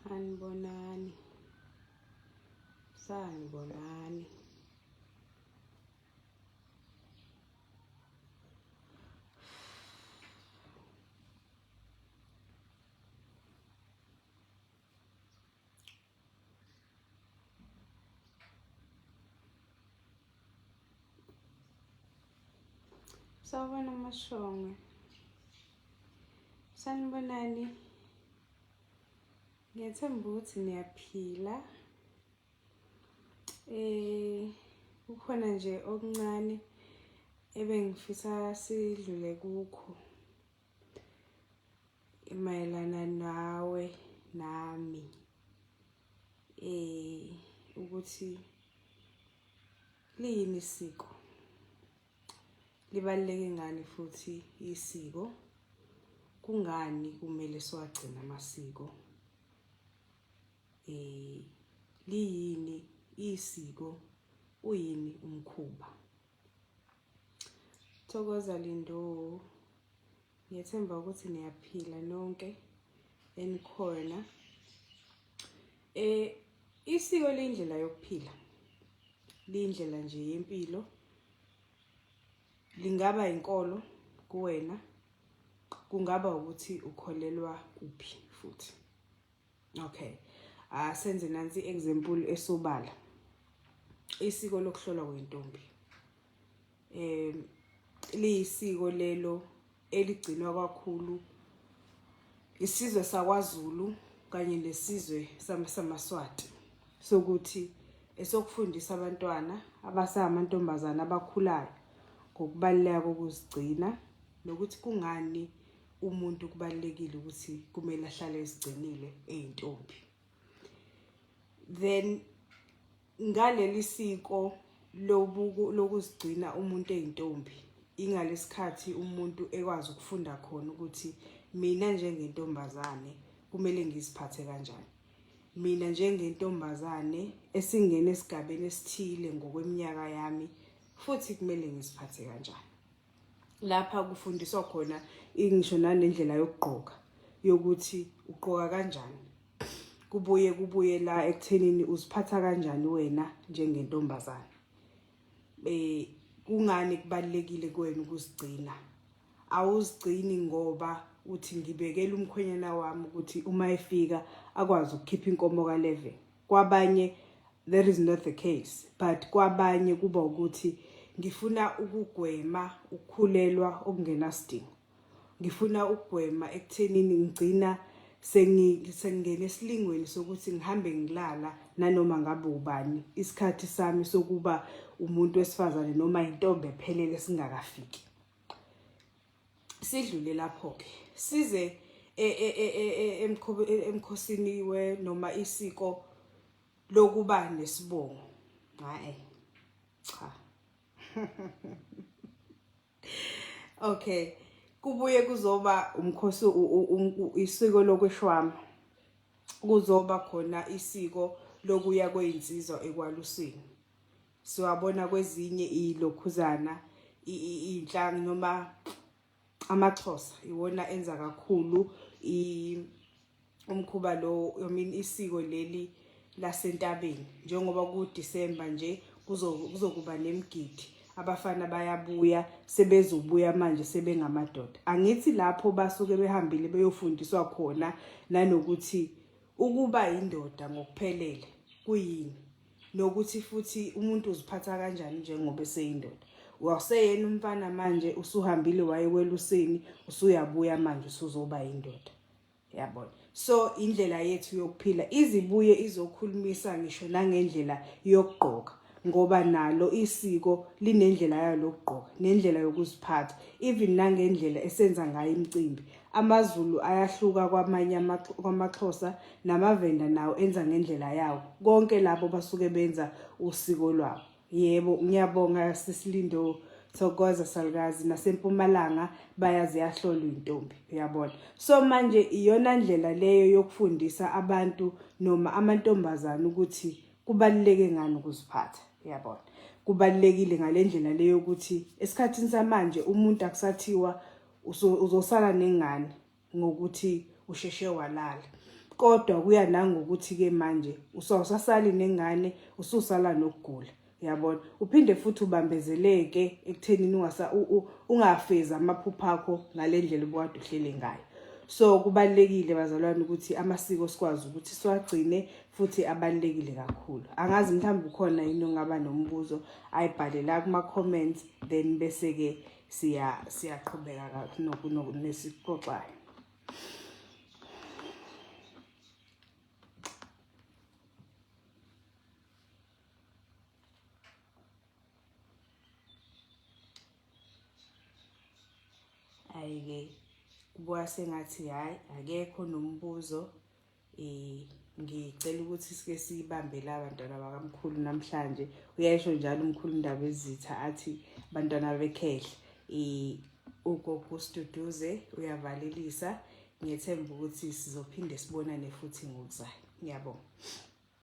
sanibonani sanibonani Sawubona Mashonga. Sanibonani. Ngethemba ukuthi niyaphila. Eh kukhona nje okuncane ebengifisa sidlule kukho mayelana nawe nami eh ukuthi liyini isiko libaluleke ngani futhi isiko kungani kumele siwagcina amasiko Eh liyini isiko uyini umkhuba? Thokoza Lindo. Ngiyethemba ukuthi niyaphila nonke enikhona. Eh isiko lindlela yokuphila. Lindlela nje yempilo. Lingaba inkolo kuwena kungaba ukuthi ukholelwa kuphi futhi okay asenze ah, nansi example esobala isiko lokuhlolwa kwentombi em liyisiko lelo eligcinwa kakhulu isizwe sakwaZulu kanye nesizwe samaSwati sokuthi esokufundisa abantwana abasamantombazana abakhulayo ngokubaluleka kokuzigcina nokuthi kungani umuntu kubalulekile ukuthi kumele ahlale ezigcinile eyintombi then ngaleli siko lobuku lokuzigcina umuntu eyintombi ingalesikhathi umuntu ekwazi ukufunda khona ukuthi mina njengentombazane kumele ngiziphathe kanjani mina njengentombazane esingena esigabeni esithile ngokweminyaka yami futhi kumele ngiziphathe kanjani lapha kufundiswa khona ngisho nanendlela yokugqoka yokuthi ugqoka kanjani kubuye kubuye la ekuthenini uziphatha kanjani wena njengentombazane eh kungani kubalekile kuwena ukuzigcina awuzigcini ngoba uthi ngibekela umkhwenyana wami ukuthi uma efika akwazi ukukhipha inkomo ka11 kwabanye that is not the case but kwabanye kuba ukuthi ngifuna ukugwema ukukhulelwa okungenasidingo ngifuna ukugwema ekuthenini ngigcina sengingena esilingweni sokuthi ngihambe ngilala nanoma ngabe ubani isikhathi sami sokuba umuntu wesifazane noma intombi ephelele singakafiki sidlule lapho ke size e, e, e, emkhosini we noma isiko lokuba nesibongo hayi cha okay kubuye kuzoba umkhosi isiko lokweshwama kuzoba khona isiko lokuya kweyinsizwa ekwalusini siwabona kwezinye ilokhuzana iy'nhlanga noma amaxhosa iwona enza kakhulu umkhuba lo i mean isiko leli lasentabeni njengoba kudisemba nje kuzokuba nemgidi abafana bayabuya sebezobuya manje sebengamadoda angithi lapho basuke behambile beyofundiswa khona nanokuthi ukuba indoda ngokuphelele kuyini nokuthi futhi umuntu uziphatha kanjani njengoba eseyindoda waseyena umfana manje usuhambile wayeweluseni usuyabuya manje usuzoba indoda yabona so indlela yethu yokuphila izibuye izokhulumisa ngisho nangendlela yokugqoka ngoba nalo isiko linendlela yalo lokugqoka nendlela yokuziphatha even nangendlela esenza ngayo imicimbi AmaZulu ayahluka kwamanye kwamaXhosa namaVenda nawo enza ngendlela yawo. Konke labo basuke benza usiko lwabo. Yebo, ngiyabonga sisilindo thokoza salukazi nasempumalanga bayazi yahlolwa intombi uyabona so manje iyona ndlela leyo yokufundisa abantu noma amantombazana ukuthi kubaluleke ngani ukuziphatha uyabona kubalulekile ngalendlela leyo ukuthi esikhathini samanje umuntu akusathiwa uzosala nengane ngokuthi usheshe walala kodwa kuya nangokuthi ke manje usawusasali nengane ususala nokugula yabona uphinde futhi ubambezeleke ekuthenini ungasa ungafeza amaphupha akho ngalendlela obukade uhlele ngayo so kubalekile bazalwane ukuthi amasiko sikwazi ukuthi siwagcine futhi abalekile kakhulu angazi mhlawumbe ukhona yini ongaba nombuzo ayibhale la kuma comments then bese ke siya siyaqhubeka kathi noku nesixoxayo ayike kubuka sengathi hayi akekho nombuzo Eh ngicela ukuthi sike sibambele abantwana bakamkhulu namhlanje uyayisho njalo umkhulu indaba ezitha athi abantwana bekhehle eh ugogo studuze uyavalelisa ngethemba ukuthi sizophinde sibonane futhi ngokuzayo ngiyabonga